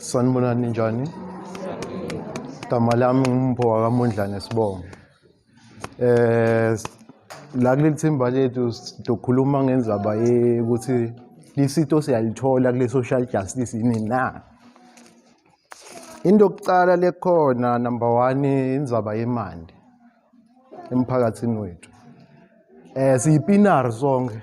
Sanibonani njani? Igama lami nguMpho wakamondlane Sibongo. Eh la kuleli thimba lethu sizokhuluma ngenzaba yokuthi lisito siyalithola kule social justice yini na? Into yokuqala lekhona number 1 inzaba yemandi emphakathini wethu. Eh siyipinari sonke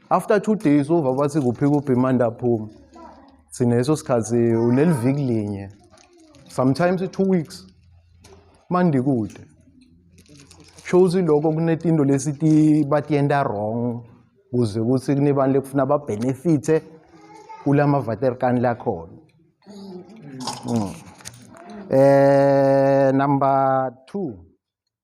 after two days uva bathi kuphi kuphi manje aphuma sineso sikhathi uneliviki linye sometimes two weeks mandi kude shows lokho kunetinto lesiti batiyenta wrong kuze ukuthi kunebantu lekufuna babenefithe kulama vaterkan lakhona mm. eh number 2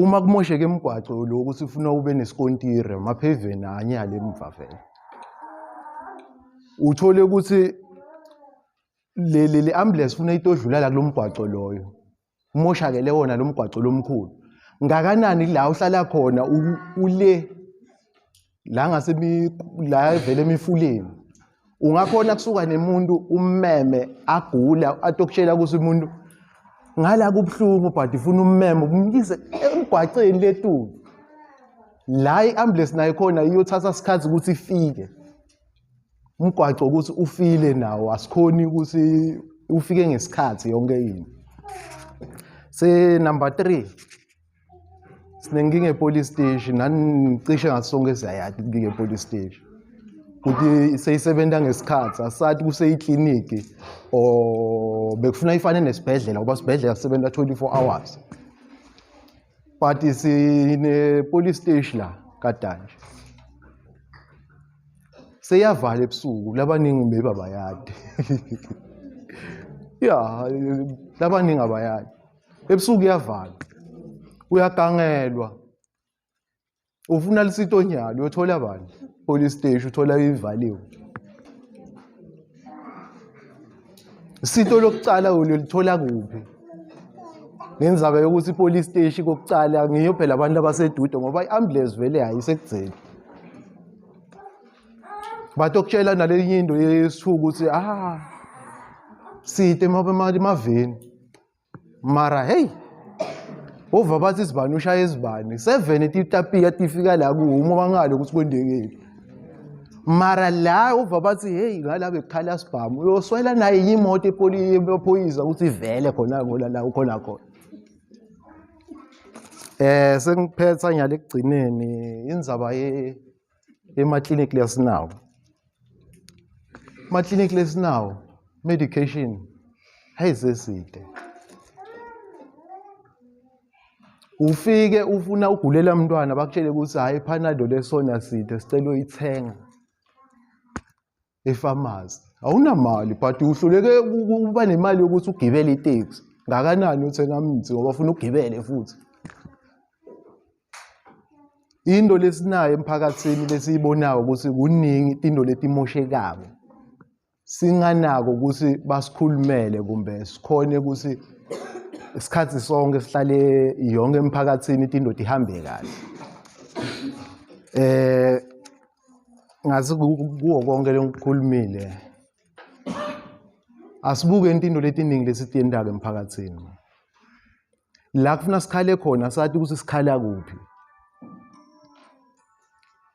Uma kumosheke imigwaco lokhu sifuna ube nesikontiri amapheveni anye ale mva vele. Uthole ukuthi le le le ambulance funa itodlula la kulomgwaco loyo. Umoshakele wona lomgwaco lomkhulu. Ngakanani la uhlala khona ule la ngase la evele emifuleni ungakhona kusuka nemuntu ummeme agula atokutshela ukuthi umuntu ngala kubuhlungu but ufuna ummeme umyise emgwaceni letulu la i-ambulance nayo khona iyothatha isikhathi ukuthi ifike umgwaco ukuthi ufile nawo asikhoni ukuthi ufike ngesikhathi yonke into se number 3 sinenkinga epolice stage nanicishe ngaso sonke esiyayati inkinga epolice stage ukuthi seyisebenza ngesikhathi asathi kuseyikliniki or bekufuna ifane nesibhedlela ngoba sibhedlela sisebenza 24 hours but sinepolice stage la kadanje seyavala ebusuku labaningi maybe abayadi ya labaningi abayadi ebusuku uyavalwa uyagangelwa ufuna lisitonyalo uyothola bani police station uthola ivaliwe isito lokucala ulithola kuphi ngenzaba yokuthi ipolice station kokucala ngiyo phela abantu abasedude ngoba i-ambulance vele hayisekugcini but okutshela nalenye into yesithuku ukuthi ah side emaveni mara hey ova bathi izibani ushaya izibani seven titapiya tifika la kuhuma bangale ukuthi kwendekile mara la ova bathi hey ngala bekukhala sibhamu uyoswela naye yimoto ephoyisa ukuthi ivele khona ngola la ukhona khona eh sengiphetha ngiyale kugcineni indzaba ye emaklinikli esinawo amaklinikli esinawo medication hayi seside ufike ufuna ugulela mntwana bakutshele ukuthi hhayi phanado lesona side sicela uyithenga efamasi awunamali but uhluleke ukuba nemali yokuthi ugibele iteksi ngakanani uthenga mithi ngoba ufuna ugibele futhi into lesinayo emphakathini lesiyibonayo ukuthi kuningi into letimoshekako singanako ukuthi basikhulumele kumbe sikhone ukuthi isikhathi sonke sihlale yonke emphakathini into indoda ihambe kahle eh ngathi kuwo konke lengikhulumile asibuke intindo letiningi lesitiyentaka emphakathini la kufuna sikhale khona sati ukuthi sikhala kuphi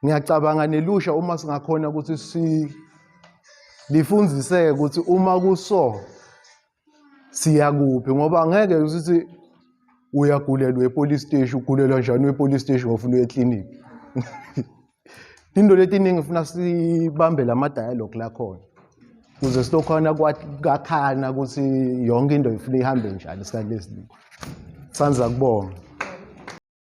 ngiyacabanga nelusha uma singakhona ukuthi si lifundiseke ukuthi uma kuso siyakuphi ngoba ngeke usithi uyagulelwa epolice steshi ugulelwa njani wepolice steshi ngofuna uye ekliniki into letiningi funa sibambe lama dialogue lakhona kuze silokhona kwakhana ukuthi yonke into ifuna ihambe njani isikhathi lesiningi sanza kubonga